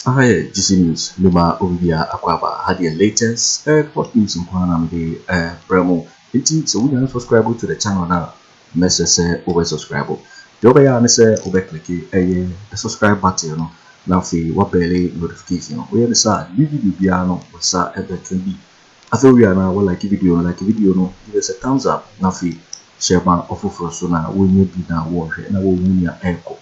Aha yɛ GC News mema obibiara akɔ aba ha deɛ latest airport news nko ara na mede ɛbrɛ mo nti sɛ wonya no subscribe to the channel no a na ɛsɛ sɛ wobɛ subscribe. Deɛ wobɛyɛ ara ne sɛ wobɛ click ɛyɛ the subscribe button no na afei wa bɛɛle notification no. Woyɛ no saa a new video biara no wo nsa ɛbɛka bi. Afei wowie a na wa like video no, like video no, give us a thumbs up na afei share ma ɔfoforɔ nso na wɔnya bi na wɔhwɛ na wɔhu nea ɛrekɔ.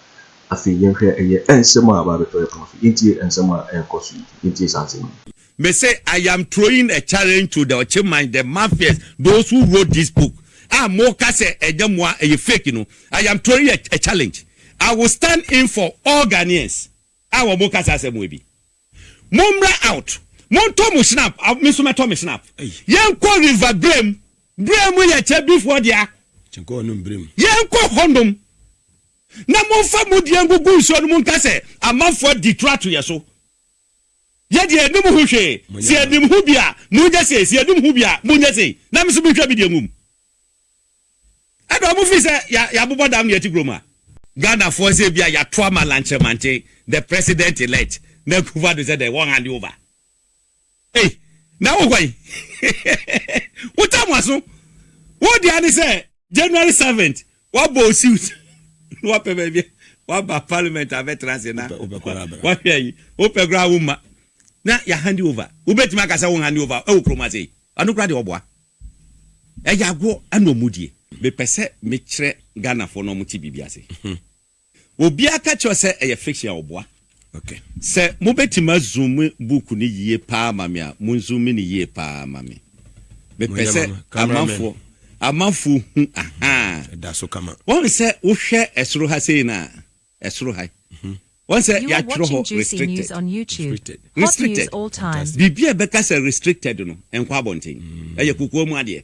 Afei yɛnhwɛ ɛyɛ nsɛm a aba abɛtɔ yɛn pono so. Yɛntie nsɛm a ɛrekɔ so yi, yɛntie saa nsɛm yi. Me se I am throwing a challenge to the Ɔkyeman, the mafias, those who wrote this book a mo ka sɛ ɛnyɛ mo a ɛyɛ fake no, I am throwing a a challenge, I will stand in for all Ghanaians a wɔn ka saa asɛm wei bi. Mo mmra out, mo ntɔ mo shnap, a me nso mɛtɔ me shnap, yɛn nkɔ river Brem, Brem yɛ Kyabifoɔ dea, yɛn nkɔ hɔ nom na mo nfa mo deɛ ngugu nsuo nom nka sɛ amanfoɔ adi toro ato yɛn so. Yɛ deɛ yɛnim ho hwee. Sɛ yɛnim ho bi a, monyɛ sei, sɛ yɛnim ho bi a, monyɛ sei, na me nso menhwɛ me deɛ nwom. Ɛdɔɔ mo firi sɛ yɛabobɔ dam ne yɛte kurom ha. Ghanafoɔ sɛ ebia yɛato ama Lankyemantse, the president elect, na Akuffo Addo sɛ dɛn, wɔn hand over. Ei, na wo hwan? Wo tam w'aso. Wo deɛ ara ne sɛ January seventh, Wabɔ wo suit na wapɛ baabi a waba parliament abɛtra ase na wahwɛ ayi. Wopɛ koraa womma na yɛahande over. Wobɛtumi aka sɛ wonhande over wɔ kurom ase yi? Ɛno koraa deɛ ɔboa. Ɛyɛ agoɔ na wɔdie. Mepɛ sɛ mekyerɛ Ghanafoɔ na wɔte biribi ase. Obiara ka kyerɛ wo sɛ ɛyɛ fiction a, ɔboa. Sɛ mobɛtumi azoome book no yie paa ma me a, monzoome no yie paa ma me. Mepɛ sɛ amanfoɔ, amanfoɔ hu, ahaa. Woahu sɛ wohwɛ ɛsoro ha sei no a, ɛsoro ha yi, woahu sɛ yɛatwerɛ hɔ restricted, restricted. Biribiara a ɛbɛka sɛ restricted no, ɛnkɔ abɔnten. Ɛyɛ kokoa mu adeɛ.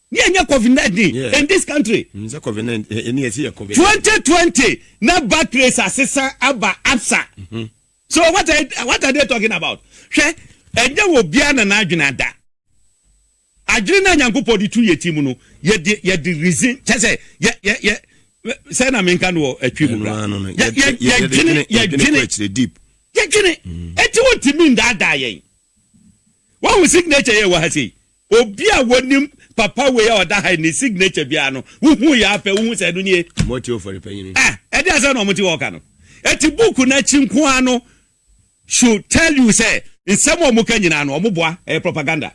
ne yɛnyɛ covid nineteen yeah. in this country. n sɛ covid nineteen ɛni eh, eh, ɛsi yɛ covid. twenty twenty na batteries asesa aba absa. Mm -hmm. so what are, what are they talking about hwɛ ɛnyɛ wɔ biara na n'adwene ada adwene na nyankopɔn de tu yɛ ti mu no yɛde yɛde reason kyɛ sɛ yɛ yɛ yɛ sɛ na menka no wɔ atwi mu kora yɛdwene yɛdwene yɛdwene ɛti mm. wontumi ndaadaa yɛn wahu signature yɛ wɔ ha sei Obi a wonim papa wei a ɔda ha yi ne signature biara no, wohu yɛ ara pɛ wohu sɛ ɛno nie. Timoteo Ofori Panyin. Ah, ɛdeɛn asɛm na wɔte hɔ reka no? Enti book no akyi nko ara no should tell you sɛ nsɛm a wɔka nyinaa no wɔboa, ɛyɛ propaganda.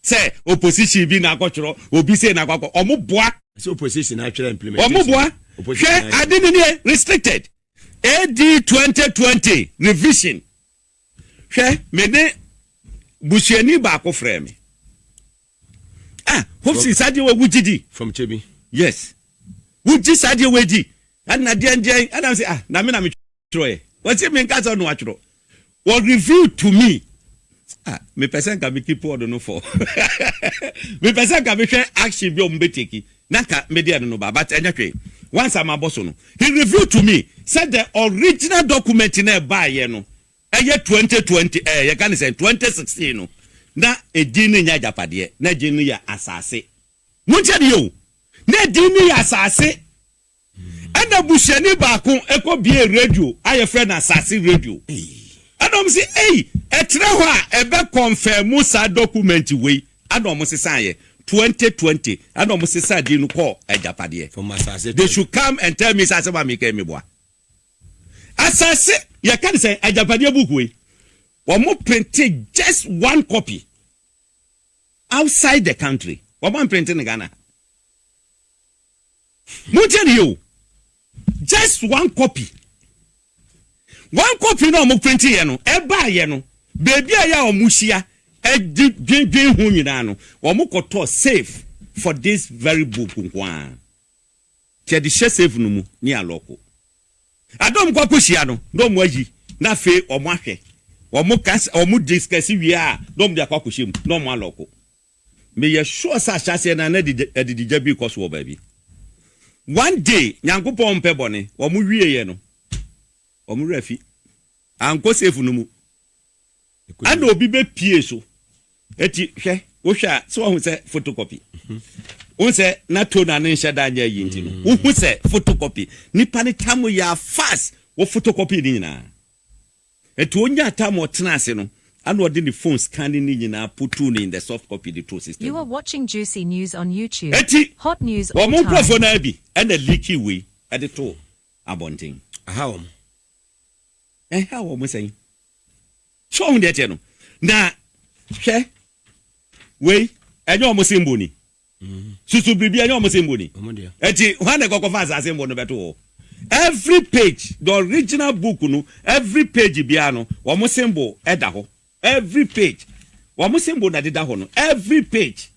Sɛ opposition bi na akɔtwerɛ, obi sei na akɔakɔ, wɔboa. Sɛ opposition na atwerɛ implementation. Wɔboa. Hwɛ ade no nie, restricted. AD 2020 revision. Hwɛ, me ne busuani baako frɛɛ me. Ah, hope si saa deɛ wɔ wogye di. Fɔmkyɛ bi. Yes. Wogye saa deɛ wɔ di. Ɛna deɛ deɛ ɛna sɛ ah na me na metwerɛ yɛ. Wɔsi me nka sɛ ɔno atwerɛ. Wɔ review to me. Ah, me pɛ sɛ nka me keep ɔdo no fɔ. Me pɛ sɛ nka me hwɛ action bi a wɔn bɛ take. na nka me deɛ no no ba but ɛnyɛ hwee once a mabɔ so no he revealed to me sɛ the original document no a ɛbaeɛ no ɛyɛ twenty twenty ɛɛ yɛka no sɛn twenty sixteen no na edin no nyɛ agyapadeɛ na edin no yɛ asaase montie adeɛ o na edin no yɛ asaase Ɛna busuani baako kɔ biee radio a yɛfrɛ no Asase Radio. Ɛna wɔn se, Ei! Ɛtrɛ hɔ a ɛbɛ kɔnfɛɛmu saa dɔkumɛnti wei. Ɛna wɔn sesaeɛ. Twenty twenty ɛna wɔn sesaa din no kɔɔ Agyapadeɛ. They should come and tell me sɛ asɛm a meka yi meboa. Asase, yɛka no sɛn? Agyapadeɛ book wei. Wɔn printe just one copy outside the country. Wɔn amprinte no Ghana ha. Montie no yie o, just one copy, one copy no a wɔprintiiɛ no, ɛbaeɛ no, baabiara a wɔhyia de dwendwen ho nyinaa no, wɔkɔtɔɔ safe for this very book nko ara. Nti yɛde hyɛ safe no mu ne alɔɔko. Ada a wɔkɔ akɔhyia no, na wɔayi, na afei wɔahwɛ, wɔka, wɔdiscuss wie a, na wɔde akɔ akɔhyɛ mu, na wɔalɔɔko. Meyɛ sure sɛ ahyɛaseɛ no a na adididwa bi rekɔ so wɔ baabi. One day, Nyankopɔn mpɛ bɔne, wɔn wieɛ no, wɔn werɛ afi. Ankɔ safe no mu. Ɛna obi bɛpie so. Enti hwɛ, wohwɛ a, sɛ wahu sɛ photocopy? Wohu sɛ na tone a ne nhyɛ da nyɛ ayi nti no, wohu sɛ photocopy. Nnipa no tam yɛ a fast, wɔ photocopy ne nyinaa. Nti onyaa time a ɔtenaa ase no, ɛna ɔde ne phone scanning no nyinaa putuu no in the soft copy de too system You are mu. watching juicy news on YouTube. Nti, Hot news all wɔn nkurɔfoɔ time. no ara bi na leakii wei de too abɔnten. Aha wɔn. Ɛha wɔn sɛn? So wohu deɛ ɛteɛ no? Na hwɛ, wei ɛnyɛ wɔn symbol ni. susu biribi ɛnyɛ wɔn sɛnbo ni ɛti hwan na ɛkɔkɔ fa asase mbo no bɛto hɔ every page the original book no every page biara no wɔn sɛnbo ɛda hɔ every page wɔn sɛnbo na deda hɔ no every page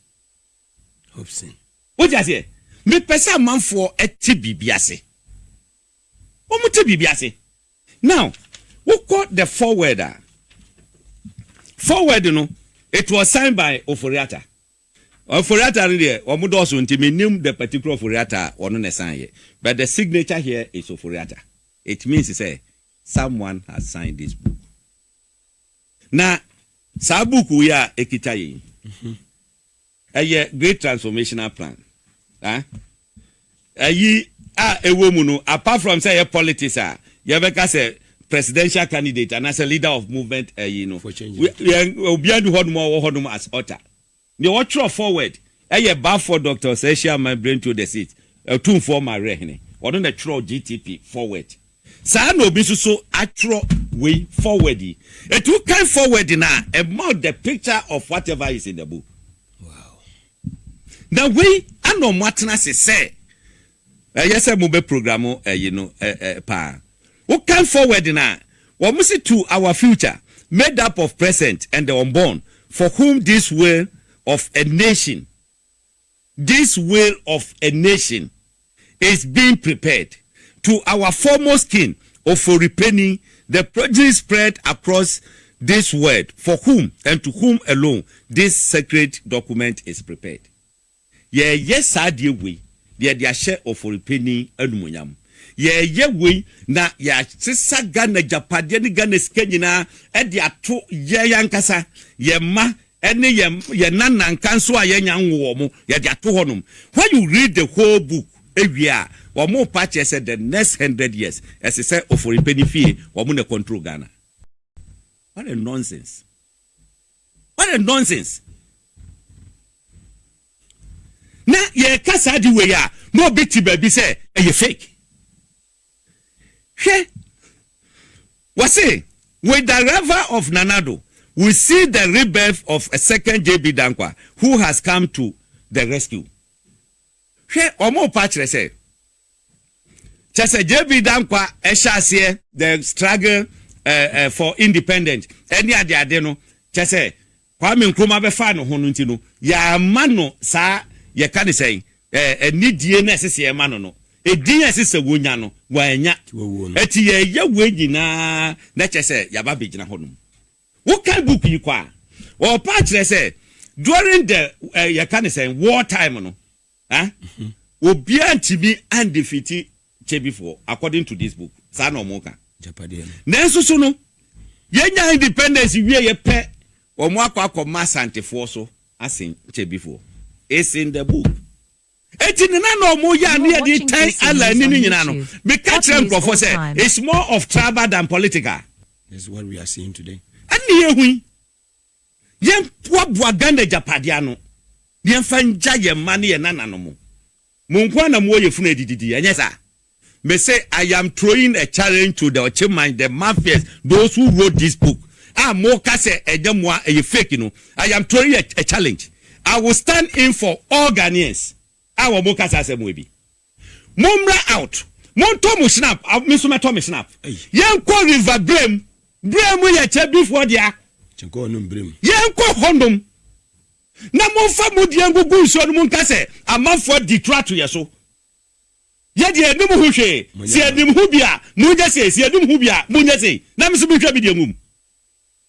wọ́n ti aseɛ mepɛ sɛ amanfoɔ ɛte biribi ase wɔn te biribi ase now wokɔ the forward a forward no it was signed by Oforiata. Ofori-Atta no deɛ wɔn dɔɔso nti me nim the particular Ofori-Atta a ɔno na ɛsan yɛ but the signature here is Ofori-Atta it means sɛ someone has signed this book na saa book wei a ɛkita yɛn yi ɛyɛ great transformational plan ah. ayi a ɛwɔ mu no apart from sɛ ɛyɛ politics a yɛbɛka sɛ presidential candidate anaasɛ leader of movement ayi no obiara ni hɔnom a ɔwɔ hɔnom as author deɛ wɔtwerɛ forward ɛyɛ Balfour Dr. Osaehye Aman Brento the sixth Otumfoɔ Mawerɛhene ɔno na ɛtwerɛ GTP forward saa na obi nso so atwerɛ wei forward yi ɛti wokan forward no a ɛma the picture of whatever is in the book. Na wei na ɔmo atena ase sɛ ɛyɛ sɛ mo bɛ program ɛyi no paa. Wo kan forward no a, ɔmo se to our future made up of present and the unborn for whom this will of a nation, this will of a nation. is being prepared. To our foremost king, Oforipeni, the progeny spread across this world for whom and to whom alone this sacred document is prepared. Yɛreyɛ saa adeɛ wei na yɛde ahyɛ Oforipeni animuonyam. Yɛreyɛ wei na yɛasesa Ghana agyapadeɛ ne Ghana sika nyinaa de ato yɛn ankasa, yɛn mma ɛne yɛn yɛn nananka nso a yɛanya nwo wɔn, yɛde ato hɔnom. When you read the whole book ewie a, wɔn pa kyerɛ sɛ the next hundred years ɛse sɛ oforipe ne fie wɔn na control Ghana. What a nonsense! What a nonsense! Na yɛreka saa de wei a, na obi te baabi sɛ ɛyɛ fake. Hwɛ, wɔse, With the arrival of Nana Addo, we see the rebirth of a second JB Danquah who has come to the rescue. Hwɛ, wɔrepa kyerɛ sɛ, kyerɛ sɛ JB Danquah hyɛ aseɛ the struggle for independent ɛne adeade no, kyerɛ sɛ Kwame Nkrumah bɛfaa ne ho no nti no, yɛamma no saa, yɛka no sɛn, ɛɛ, nidie no a ɛsɛ sɛ yɛma no no, edin a ɛsɛ sɛ wɔnya no, wannya. Enti yɛreyɛ wei nyinaa na kyerɛ sɛ yɛaba abɛgyina hɔnom. Wokan book yi kɔ a, ɔrepa akyerɛ sɛ during the, ɛɛ, yɛka no sɛn, war time no, Huh? Obiara ntumi andefeati Kyebifoɔ according to this book. Saa na wɔn ka. Agyapadeɛ no. Nanso so no, yɛnya independence wieɛ pɛ, wɔn akɔ akɔma Asantefoɔ so asen Kyebifoɔ. It's in the book. Enti ne na na wɔn yɛ a ne yɛde retan Allah ani no nyinaa no, meka kyerɛ nkurɔfoɔ sɛ it's more of tribal than political. This is what we are seeing today. Ɛne yɛhu yi. Yɛmboaboa Ghana agyapadeɛ ano na yɛmfa ngya yɛn mma ne yɛn nananom. Mo nko ara na mowɔ yɛn funu adididie, ɛnyɛ saa? Mese I am throwing a challenge to the Ɔkyeman, the mafias, those who wrote this book a moka sɛ ɛnyɛ mo a ɛyɛ fake no, I am throwing a challenge. I will stand in for all Ghanaians. a wɔn kasa asɛm wɔ bi mo mmra out montɔ mo snap a me nso mɛtɔ me snap yɛnkɔ river brem brem yɛ kyɛ bifoɔ dea yɛnkɔ hɔ nom na momfa mo deɛ ngugu nsuo no monka sɛ amanfoɔ di toro ato yɛ so yɛ deɛ anim ho hwee sɛ anim ho bi a monyɛ sei sɛ anim ho bi a monyɛ sei na me nso mehwɛ me deɛ ngum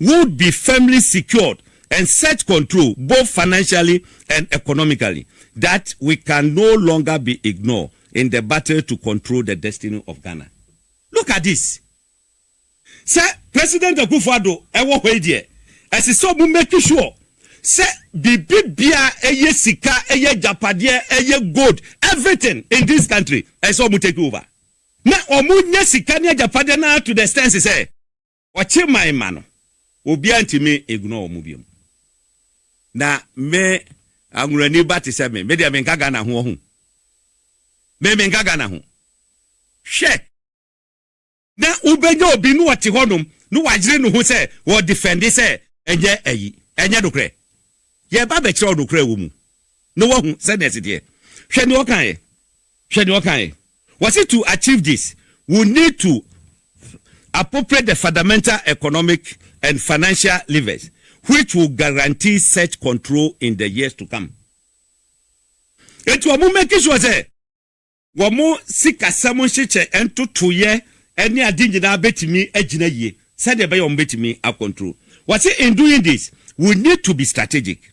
would be firmly secured and set control both financially and economically that we can no longer be ignored in the battle to control the destiny of Ghana. Look at this, sɛ President Akuffo Addo wɔ hɔ yi deɛ, ɛse sɛ ɔmo make sure sɛ biribi biaa ɛyɛ sika, ɛyɛ agyapadeɛ, ɛyɛ gold, everything in this country, ɛse sɛ ɔmo take over. Na ɔmo nya sika ne agyapadeɛ no ara to the extent sɛ. Wɔkye mae ma no. Obiara ntumi ignore wɔn bio. Na me Anwurani ba te sɛ me, me deɛ menka Ghana ho ɔho. Me menka Ghana ho. Hwɛ! Na wobɛnya obi na ɔte hɔnom na wayere ne ho sɛ ɔredefɛnde sɛ ɛnyɛ ayi, ɛnyɛ nokorɛ. Yɛreba abɛkyerɛ wo nokorɛ a ɛwɔ mu na woahu sɛdeɛ ɛteteɛ. Hwɛ deɛ ɔkaeɛ. Hwɛ deɛ ɔkaeɛ. Ɔse to achieve this we need to appropriate the fundamental economic and financial levers which will guarantee such control in the years to come. Enti wɔn make sure sɛ wɔn sikasɛm nhyehyɛ ntotoeɛ ne ade nyinaa bɛtumi agyina yie sɛdeɛ ɛbɛyɛ wɔn bɛtumi akɔntro. Ɔse in doing this we need to be strategic.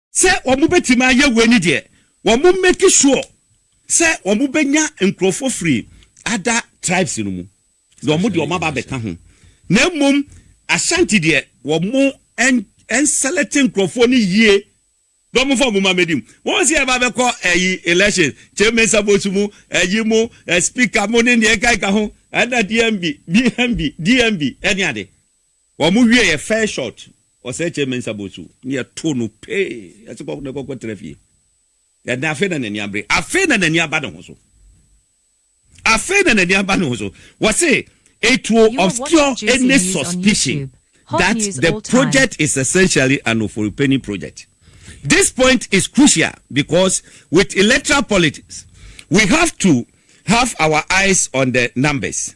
Sɛ wɔbɛtumi ayɛ wei no deɛ, wɔmmake sure sɛ wɔbɛnya nkurɔfoɔ firi other tribes no mu na wɔde wɔn aba abɛka ho. Na mmom Ashanti deɛ, wɔnselɛkte nkurɔfoɔ no yie na wɔmfa wɔn mma mmɛdi mu. Wɔn sɛ yɛba abɛkɔ ayi election, Kyei Mensah vote mu, ayi mu, speaker mu ne deɛ ɛkeka ho, ɛna DMB, DMB, DMB ne ade. Wɔn wie yɛ fair shot ɔsɛkyɛ mensa bɔ so ne yɛ to no pee yɛ se kɔ ne kɔ kɔ tra fie yɛ dan afei na n'ani abere afei na n'ani aba ne ho so afei na n'ani aba ne ho so wɔ se it will obscure any suspicion that the project is essentially an oforipani project this point is crucial because with electoral politics we have to have our eyes on the numbers.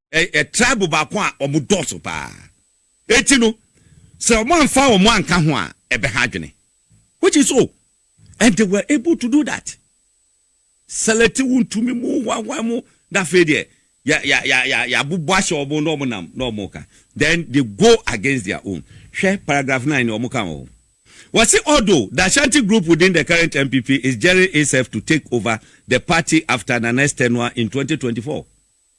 ɛ tribe baako a wɔn dɔɔso paa eti no sɛ wɔn anfa wɔn anka ho a ɛbɛ ha adwene which is so and they were able to do that select wo ntumi mu wawa mu na afei deɛ ya ya ya ya ya bubɔ ahyɛ wɔn na wɔn nam na wɔn ka then they go against their own hwɛ paragraph nine na wɔn ka wɔn ho. Wɔse although the Ashanti group within the current NPP is gearing itself to take over the party after Nana Estenuah in 2024,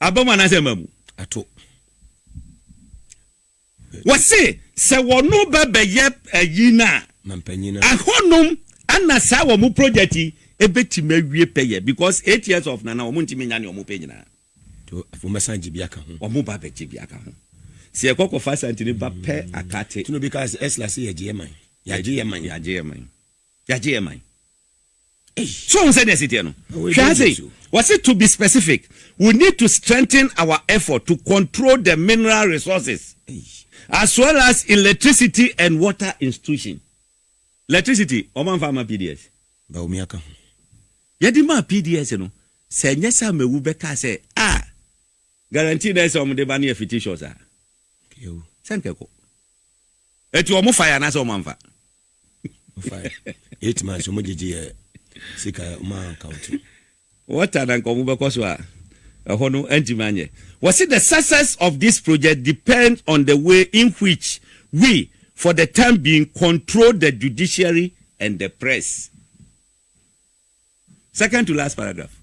Aba mu anaasɛ mma mu? Ato. Wɔse sɛ wɔno bɛbɛyɛ ayi no a, ahɔnom ana saa wɔn project yi ɛbɛtumi awie pɛyɛ because eight years of nana wɔn ntumi nya nea wɔn pɛ nyinaa. Afei wɔn bɛsan gye bi aka ho. Wɔn ba bɛgye bi aka ho. Sɛ yɛkɔ kɔfa asantini ba pɛ akate. Tino bi kaa sɛ ɛsla sɛ yɛgye yɛ man. Yɛagye yɛ man. Yɛagye yɛ man. Yɛagye yɛ man. So wohu sɛdeɛ ɛsi teɛ no? Hwɛ ha sei, wɔse to be specific, we need to strengthen our effort to control the mineral resources as well as electricity and water institution. Electricity, wɔn amfa ama PDS. Bawumia ka ho. Yɛde maa PDS no, sɛ ɛnyɛ sɛ Amewu bɛkaa sɛ, ah, guarantee na ɛsɛ sɛ wɔde ba no yɛ fictitious a, sɛ anka ɛkɔ. Enti wɔfaeɛ anaasɛ wɔamfa? eight months ɔmo gyegye yɛ sika ɔmo anka wo ti. wɔta na nka ɔmo bɛkɔ so a ɛhɔ no antumi anyɛ wɔsi the success of this project depends on the way in which we for the time being control the judiciary and the press second to last paragraph.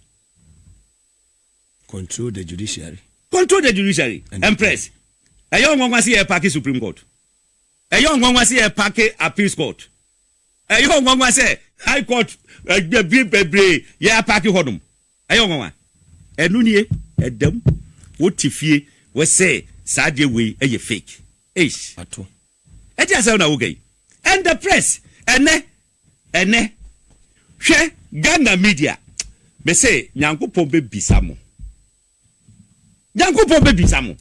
control the judiciary. control the judiciary and, and press ɛyɛ ɔnwanwa si yɛ paaki supreme court. Ɛyɛ nwanwa sɛ yɛpake Appeals Court. Ɛyɛ nwanwa sɛ High Court bi bebree yɛapake hɔnom. Ɛyɛ nwanwa. Ɛno nie, ɛda mu. Wote fie, wose saa adeɛ wei yɛ fake. Eish! Ato. Ɛte asɛm na woka yi. And the press, ɛnɛ, ɛnɛ, hwɛ Ghana media. Mese Nyankopɔn bɛbisa mo. Nyankopɔn bɛbisa mo.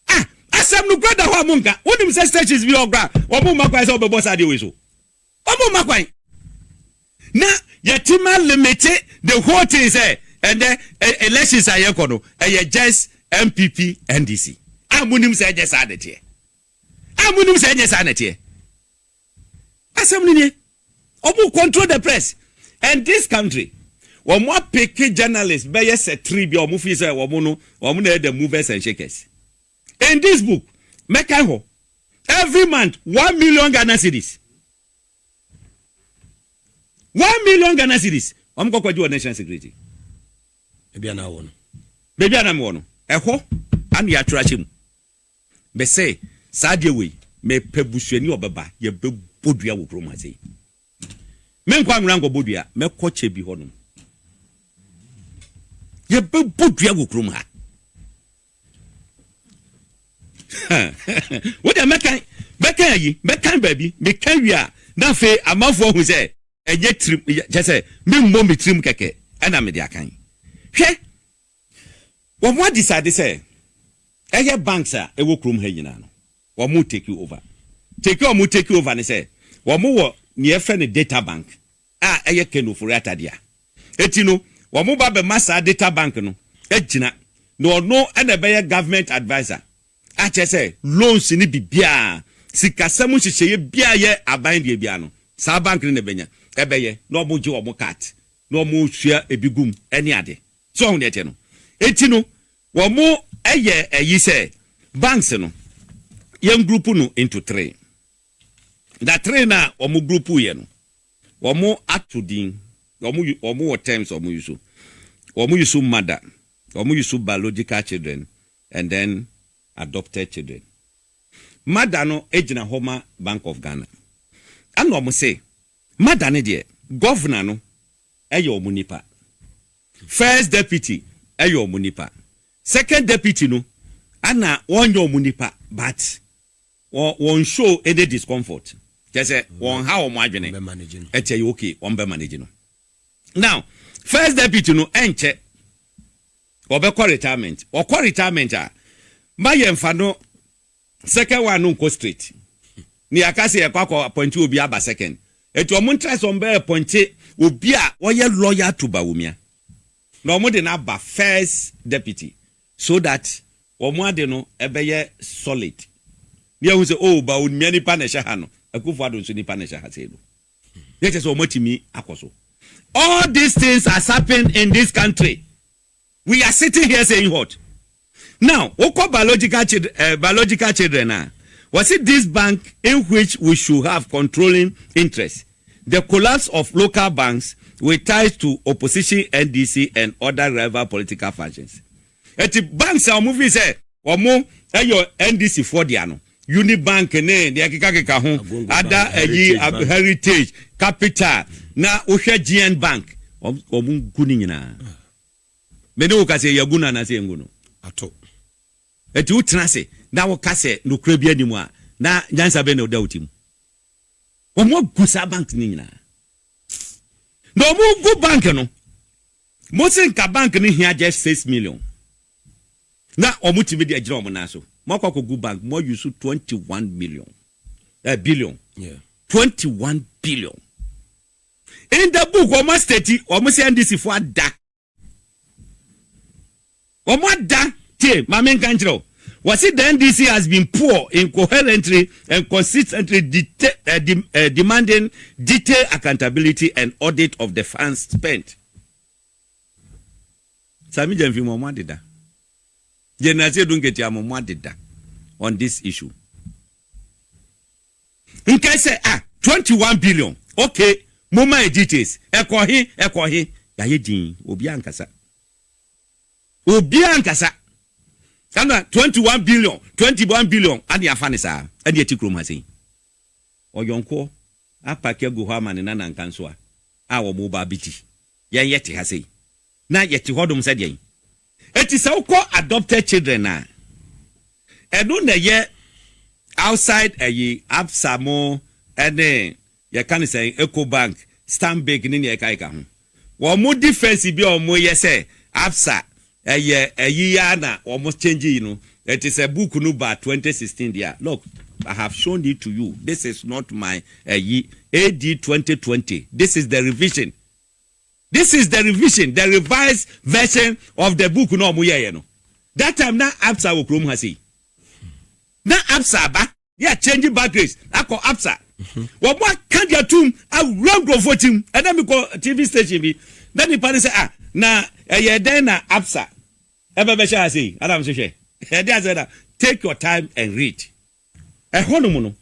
Ah asɛm no kura da hɔ a mo nka wonim sɛ stations bi hɔ kura wɔn mma kwan sɛ wɔbɛbɔ saa adeɛ wei so wɔn mma kwan na yɛtim a limite the whole thing sɛ ɛndɛ elections a yɛkɔ no ɛyɛ just MPP NDC a mo nim sɛ ɛnyɛ saa na ɛteɛ a mo nim sɛ ɛnyɛ saa na ɛteɛ. Asɛm no nie. Ɔmo control the press and this country ɔmo apeke journalist bɛyɛ sɛ three bi a ɔmo feel sɛ ɔmo no ɔmo na ɛyɛ the movers and shakers. In this book mɛkan hɔ every month one million Ghana cedis one million Ghana cedis ɔmo kɔ kɔgye wɔ national security ebi a na wɔ no baabi a na mewɔ no ɛhɔ ana yɛatwerɛ ahyɛ mu. Me se, saa adeɛ wei, mepɛ busuani a ɔbɛba, yɛbɛbɔ dua wɔ kurom ha sei. Menkɔ Anwera nkɔbɔ dua, mɛkɔ Kyebi hɔnom. Yɛbɛbɔ dua wɔ kurom ha. Wo deɛ mɛkan, mɛkan ayi, mɛkan baabi, meka wie a, na afei amanfoɔ ahu sɛ ɛnyɛ tirim, kyɛ sɛ memmɔ me tirim kɛkɛ ɛna mede akan. Hwɛ! Wɔn adisade sɛ ɛyɛ banks a ɛwɔ kurom ha nyinaa no wɔn take over. Take a wɔn take over ne sɛ wɔn wɔ nea yɛfrɛ no data bank a ɛyɛ Ken Ofori-Atta dea. Eti no wɔn ba bɛma saa data bank no agyina na ɔno na ɛbɛyɛ government adviser akyerɛ sɛ loans ne biribiara sikasɛm nhyehyɛeɛ biara yɛ aban deɛ biara no saa bank no na ɛbɛnya ɛbɛyɛ na wɔn gye wɔn cut na wɔn sua ebi gu mu ɛne ade. So wahu nea ɛteɛ no? Enti no, wɔayɛ ayi sɛ banks no, yɛngruupu no into three. Na three no a wɔgruupuuiɛ no, wɔato din, wɔwɔ terms a wɔyusu. Wɔyusu mother, wɔyusu biological children and then adopted children. Mother no gyina hɔ ma Bank of Ghana. Ɛna wɔse. Mada no deɛ governor no yɛ wɔn nipa, first deputy yɛ wɔn nipa, second deputy no na wɔnyɛ wɔn nipa but wɔn show any discomfort kyerɛ sɛ wɔn ha wɔn adwene ɛkyɛ yɛ okay wɔn bɛ manage no now first deputy no ɛnkyɛ wɔbɛkɔ retirement wɔkɔ retirement a ma yɛn fa no Second one no nkɔ straight. Ne yɛaka sɛ yɛkɔ akɔ appointe obi aba second. Nti ɔmo ntra sɛ ɔmo bɛ appointe obi a ɔyɛ loyal to Bawumia. Na ɔmo de no aba first deputy so that ɔmo ade no ɛbɛyɛ solid. Na yɛahu sɛ oh Bawumia nipa na ɛhyɛ ha no, Akuffo Addo nso nipa na ɛhyɛ ha sei no. Na ɛkyerɛ sɛ ɔmo atumi akɔ so. All these things has happened in this country. We are sitting here saying what? Now wo kɔ biological children eh, biological children a, wɔ se this bank in which we should have controlling interest, the collapse of local banks with ties to opposition NDC and other rival political factions. Eti banks a wɔn fi sɛ wɔn yɛ NDC foɔ dea no, Unibank ne deɛ ɛkekakeka ho, ada ayi Heritage Bank. Heritage, Capital, na wohwɛ GN Bank, wɔn wɔn gu ne nyinaa. Me ne wo ka sɛ yɛagu no anaasɛ yɛngu no. Ato. Enti wotena ase na woka sɛ nokorɛ biara nni mu a, na nyansa bɛn na ɛda wo ti mu? Wɔagu saa bank no nyinaa. Na wɔgu bank no. Mose nka bank no hia just six million na wɔn tumi de agyina wɔn nan so mo akɔ akɔ gu bank mo ayi so twenty one million eh, billion yeah. twenty one billion in the book wɔn asiteti wɔn sɛ ndc fo ada. Wɔn ada tie ma me nka nkyerɛ wo. Wɔse the NDC has been poor in coherently and consistently demanding detailed accountability and audit of the funds spent. Sami Gyamfi mo mo adeda. General Seidu Nketia mo mo adeda on this issue. Nkae sɛ ah 21 billion okay momma yɛ details ɛkɔ he ɛkɔ he yɛayɛ din obiara nkasa. Obiara nkasa. Ɛna twenty one billion, twenty one billion ade afa no saa ɛde ɛte kurom ha sei. Ɔyɔnkoɔ apake agu hɔ ama ne nana nkansowa a wɔn reba abɛdi. Yɛn yɛte ha sei na yɛte hɔ nom sɛ deɛn? Enti sɛ wokɔ adopted children a, ɛno na ɛyɛ outside ɛyi, Absa mo ɛne Yɛka no sɛn? Ecobank, Stanbic ne nea ɛkeka ho. Wɔn defence bi a wɔyɛ sɛ Absa ɛyɛ ɛyi yi ara na wɔn change yi no, ɛte sɛ book no baa twenty sixteen deɛ a, look I have shown it to you, this is not my ɛyi, AD twenty twenty, this is the revision, this is the revision, the revised version of the book no a wɔyɛeɛ no. That time na Absa wɔ kurom ha sei. Na Absa aba. yɛ akyɛngye bagrace akɔ absa wɔn mo aka deɛ tum awura nkurɔfoɔ tim ɛnna mi kɔ tv station bi na nipa ne sɛ ah na ɛyɛ dɛn na absa ɛbɛ bɛhyɛ ase yi anam so hwɛ ɛde asɛ na take your time and read ɛhɔnom no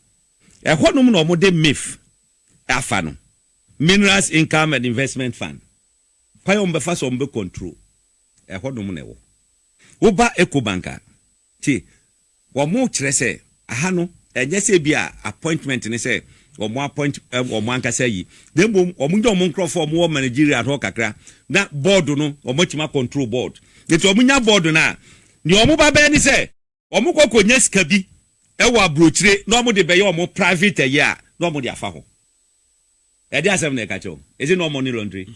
ɛhɔnom na wɔn de mif afa no minerals income and investment fund kwan wɔn bɛfa so wɔn bɛ control ɛhɔnom na ɛwɔ woba ecobank a tie Wɔkyerɛ sɛ ɛha no, ɛnyɛ sɛ ebia appointment ne sɛ wɔappoint wɔn ankasa ayi, na mmom wɔnyɛ wɔn nkurɔfo a wɔwɔ managerial hɔ kakra, na board no, wɔatumi akɔntrol board. Enti wɔnya board no a, nea wɔba bɛyɛ ne sɛ, wɔkɔ kɔnya sika bi wɔ aburokyire na wɔde bɛyɛ wɔn private ɛyɛ a, na wɔde afa hɔ. Ɛdeɛn asɛm na ɛka kyerɛ wo? Is it not money laundering?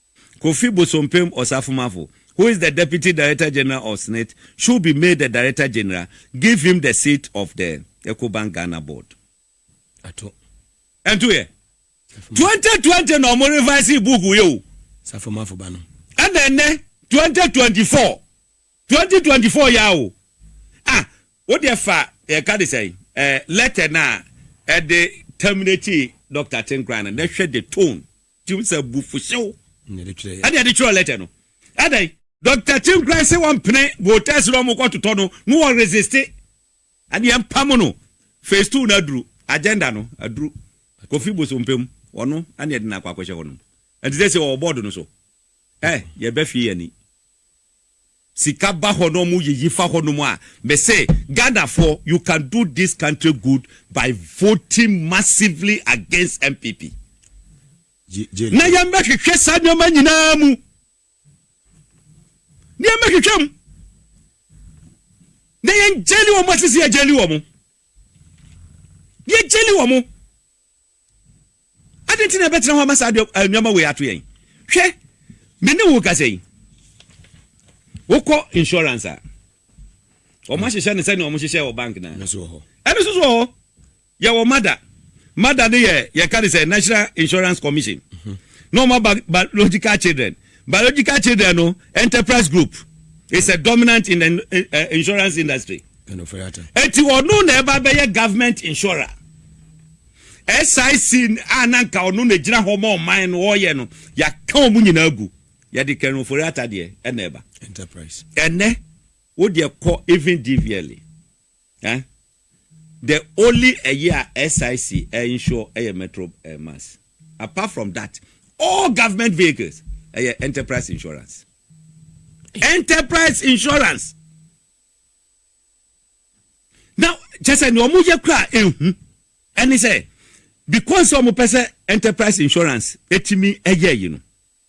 Kofi Bosompem Osafomafo, who is the Deputy Director General of SNIT, should be made the Director General, give him the seat of the Ecobank Ghana Board. Ato. Ɛnto yɛ. Twenty twenty na ɔmo revise book yi o. Safomafo ba no. Ɛna ɛnɛ twenty twenty four twenty twenty four ya o. Ah wo deɛ fa yɛ ka de sɛn eh, letter na ɛde terminate Doctor Tenkran no na hwɛ the tone Tim sɛ abufuhyew ɛna ɛde twerɛɛ lɛtɛ no. Adɛn? Doctor Tim koraa se wɔmpene voters no a wɔkɔ totɔ no na wɔ resiste. Ɛne yɛmpam no. Phase two no aduru. Agenda no aduru. Kofi Bosompem, ɔno ɛne yɛde no akɔ akɔhyɛ hɔnom. Ɛnti sɛsei ɔwɔ board no so. Ɛ, yɛbɛhwe yɛn ani. Sika ba hɔ na ɔmo yiyi fa hɔ nom a me se Ghana foɔ you can do this country good by voting massively against NPP na yɛn bɛ hwehwɛ saa nneɛma nyinaa mu na yɛn bɛ hwehwɛ mu na yɛn gyeli wɔn asisi yɛ gyeli wɔn yɛ gyeli wɔn. Adɛn nti na yɛbɛtena hɔ ama saa nneɛma wei ato yɛn? Hwɛ, me ne wo rekasa yi, wokɔ insurance a, wɔahyehyɛ no sɛnea wɔhyehyɛ wɔ bank no a. Ɛno nso wɔ hɔ. Ɛno nso wɔ hɔ. Yɛwɔ MADA. MADA no yɛ yɛka no sɛ National Insurance Commission. Na wɔn aba biological children. Biological children no enterprise group is a dominant in the insurance industry. Eti ɔno na ɛba bɛyɛ government insurer. SIC a na nka ɔno na gyina hɔ ma ɔman no ɔyɛ no yɛaka wɔn nyinaa gu yɛde Ken Ofori-Atta deɛ ɛna ɛba. Enterprise. Ɛnɛ wo deɛ kɔ even DVLA. Eh the only ɛyɛ a SIC insure ɛyɛ metro eh mass apart from that all government vehicles ɛyɛ enterprise insurance enterprise insurance na kyɛ sɛ nea wɔn yɛ kura ehu ɛne sɛ because wɔn pɛ sɛ enterprise insurance etimi ɛyɛ yi no.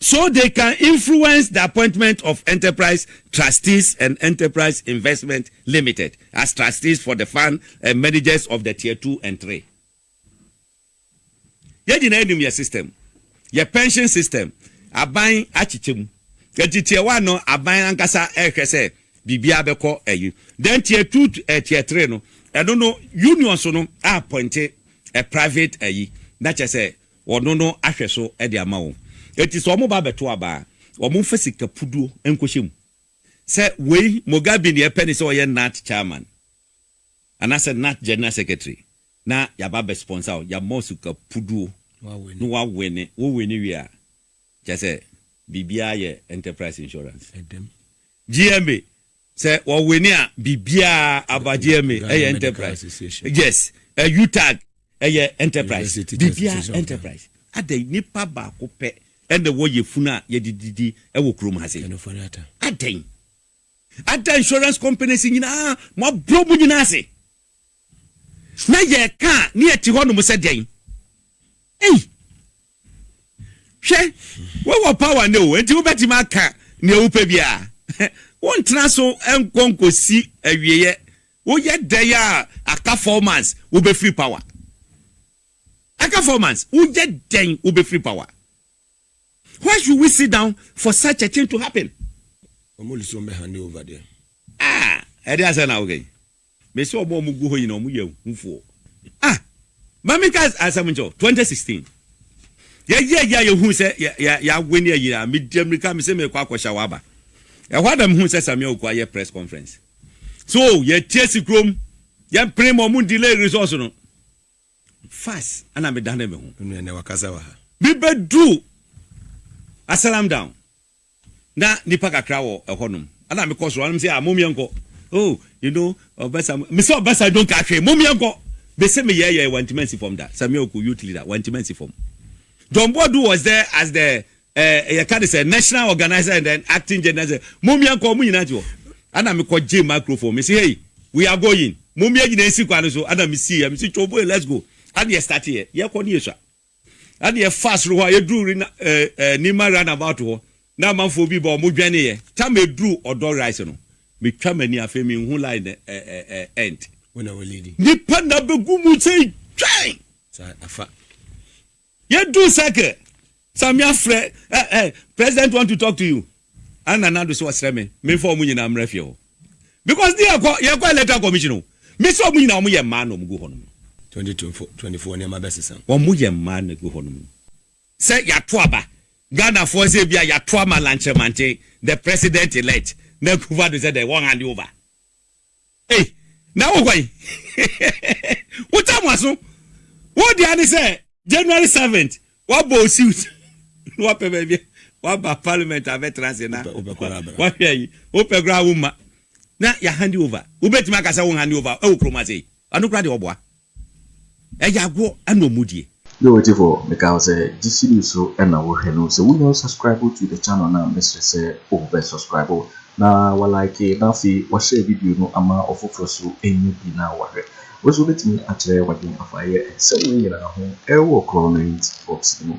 so they can influence the appointment of Enterprise Trustees and Enterprise Investment Limited as trustees for the fund and managers of the tier two and three. Yɛn nyinaa nim yɛn system, yɛn pension system, aban akyekyɛ mu. Enti tier one no, aban ankasa rehwɛ sɛ biribiara bɛkɔ ayi. Then tier two, eh, tier three no, ɛno no, unions no appointe a private ayi. Na kyerɛ sɛ wɔno no ahwɛ so de ama wɔn. Enti sɛ wɔba abɛto aba a, wɔmfa sika puduo nkɔhyɛ mu. Sɛ wei, Mugabe deɛ ɛpɛ ne sɛ ɔyɛ NAAT chairman anaasɛ NAAT general secretary na yɛaba abɛ sponsor wo, yɛama wo sika puduo na woawene. Wo wene wie a, kyerɛ sɛ biribiara yɛ enterprise insurance. GMA, Sɛ wɔ wini a biribiara aba deɛ me ɛyɛ enterprise yes utag ɛyɛ enterprise biribiara enterprise adɛn nipa baako pɛ ɛna ɛwɔ yɛ funu a yɛde didi ɛwɔ kurom ha sɛ adɛn ada insurance companies nyinaa mo aburo mo nyinaa ase na yɛka ne yɛte hɔ nom sɛ dɛn ei. Hwɛ, wowɔ power nnɛ o, enti wobɛtumi aka nea wopɛ biara. Wontena so nkɔ nkosi awieɛ. Woyɛ dɛn a, aka four months, wobɛfiri power. Aka four months, woyɛ dɛn wobɛfiri power. Why should we sit down for such a thing to happen? Wɔn de sɛ wɔn bɛ hande over deɛ. Ah, ɛde asɛn na woka yi. Mese ɔmo a ɔmo gu hɔ nyinaa ɔmo yɛ ahufoɔ. Ah! Ma me nka asɛm nkyerɛ wo, 2016 yɛ yɛ yɛ a yɛ hu sɛ yɛ yɛ yɛ awene ayi a, me di amirika me se me rekɔ akɔ hyɛ wo aba. Ɛhɔ ara na me hu sɛ Samia Oku ayɛ press conference. So yɛ te asi kurom, yɛ mpene ma ɔmo delay resource no. Fast ɛna me dane me ho. Onua nɛ wakasa wɔ ha. Me bɛ duru Asalam down. Na nnipa kakra wɔ ɛhɔnom. Ɛna mekɔ soro, ɛna mesɛ, ah, mom yɛnkɔ. Oh, you know, Ɔbasa, mesɛ Ɔbasa don't ka hwee, mom yɛnkɔ. Mese meyɛɛyɛɛ, wantumi ansi fam da. Samuel Ku, youth leader, wantumi ansi fam. John Boadu was there as the, eh, yɛka ne sɛ, national organizer and then acting general sɛ, mom yɛnkɔ, wɔn nyinaa te hɔ. Ɛna mekɔ gyee microphone, mese, hey, we are going, mom yɛn nyinaa nsi kwan no so, ɛna mesiiɛ, mese, Chobue, let's go. Ɛna yɛstarteeɛ, yɛkɔ ne yɛsua. Na deɛ ɛfaa soro hɔ a yɛduruu Rina, eh, eh, Nima roundabout hɔ na amanfoɔ bi ba, wɔdwɛneeɛ. Tam meduruu Ɔdɔ Rise no, metwa m'ani, afei menhu line no ɛ, ɛ, ɛ, end. Wo na wo leadi. Nnipa nna bɛgu mu sɛ twan! Sa, afa. Yɛduruu circle, Samia frɛ, eh, eh, President want to talk to you. Anna Nadu sɛ ɔsrɛ me memfa wɔn nyinaa mmra fie hɔ because ne yɛkɔ yɛkɔ electoral commission o. Me sɛ wɔn nyinaa wɔn yɛ mmaa na wɔn gu hɔnom no. Twenty twenty four nneɛma bɛsesa. Wɔn yɛ mmaa na egu hɔnom no. Sɛ yɛato aba. Ghanafoɔ sɛ ebia yɛato ama Lankyerɛmanten the president elect na Akuffo-Addo sɛ dɛn wɔn hand over. Ei na wo hwan wo tam waso wo deɛ ne sɛ January seventh wabɔ o suit na wapɛ baabi waba parliament abɛtra ase na wahwɛ yi wopɛ koraa wo mma na yɛ handi over wobɛtumi aka sɛ wo handi over ɛwɔ kurom ase yi ano koraa deɛ ɔboa Ɛyɛ agoɔ ɛna ɔmo die. Yo ɔtifoɔ meka wo sɛ gyesi do so na wo hwɛ no sɛ wo nya ɔsubscribe to the channel no a mesrɛ sɛ oh bɛ subscribe na wa like na afei wa share video no ama ɔfoforɔ so nya bi na wa hwɛ wo nso wobɛtumi akyerɛ wadwen afa yɛ nsɛm wei nyinaa ho ɛwɔ korɔ no int box no mu.